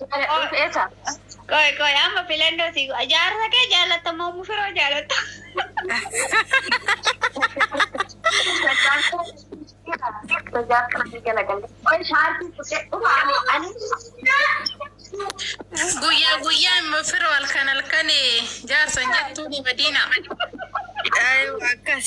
Jaaladhuuf eessa? Qoy qoy amma filannoo si jaarsa kee jaalatta moo mushuroo jaalatta? Guyyaa guyyaan mufiro halkan halkan jaarsan jettuuni Madiina. Ayu akkas.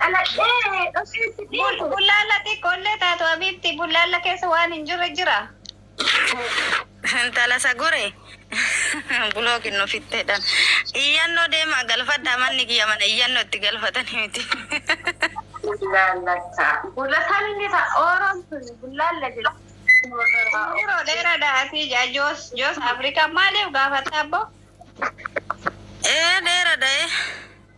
Dhaladhee dhufee si Bul- dhiibu. Bullaalla xiqqoollee taatu Habiibti bullaalla keessa waan hin jirre jira. Intala sagure bulookin nu fitteedhaan iyyannoo deemaa galfadhaa manni kiyya mana iyyannoo itti galfatanii miti. Bullaallata. Bullataan inni ta'a. Ooroon sun bullaalla jedha. Yeroo dheeraadha asii jaa joos joos Afrikaa maaliif gaafatta abboo? Ee dheeradha ee.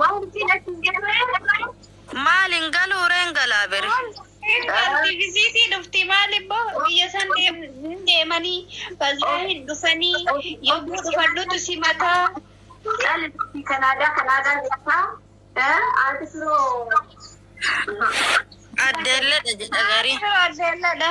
Wanti na hin galle. Maal hin galuu reen galaa beri. Galti visiitii dhufti maal immoo biyya san hin deemanii baziyaa hin dhufanii yommuu dhufan nutu simataa. Cal fi kanaadaa kanaadaa jirtaa. Aati firoo. Addeelledha jedha garii. Addeelladha.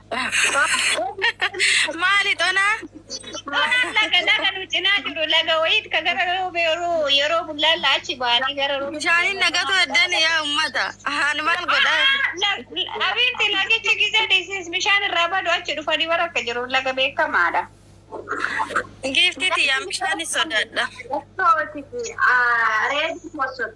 Maali xonaa? Xonaan laga laga nu cinaa jiru laga wayiit ka gara roobee yeroo yeroo bullaalla achi baanii gara roobee. Bishaaniin naqatu eddan yaa ummata. Haan maal godha? Abiitti lagichi gizee dhiisis bishaan irraa badu achi dhufanii bara akka jiru laga beekamaadha. Giiftii tiyyaan bishaani sodaadha. Reedii kossotu.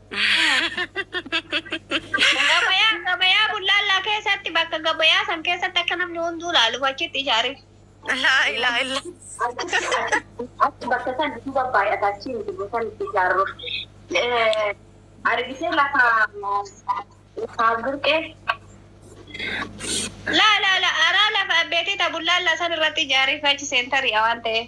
Gabayaa gabayaa bullaallaa keessatti bakka gabayaa san keessatti akka namni hunduu laaluuf achitti ijaare. Laa ilaa illa. Achi bakka san duuba baay'ata achi miti bosaan itti ijaarru. Argitee lafa lafa burqee. Laa laa laa araa lafa abbeetii ta bullaallaa san irratti ijaare achi seentarii waan ta'eef.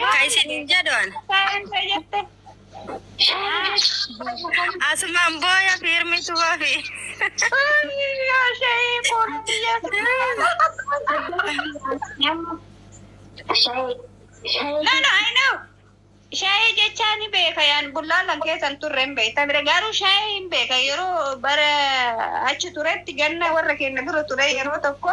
Ka isiniin jedhu an. Asumaan booya fiirmitu wafi. Lala ayinoo shaayii jechaa ni beeka yaan bullaalan keessan turre hin beektan garuu shaayii hin beeka yeroo bara achi turetti ganna warra keenya dura ture yeroo tokko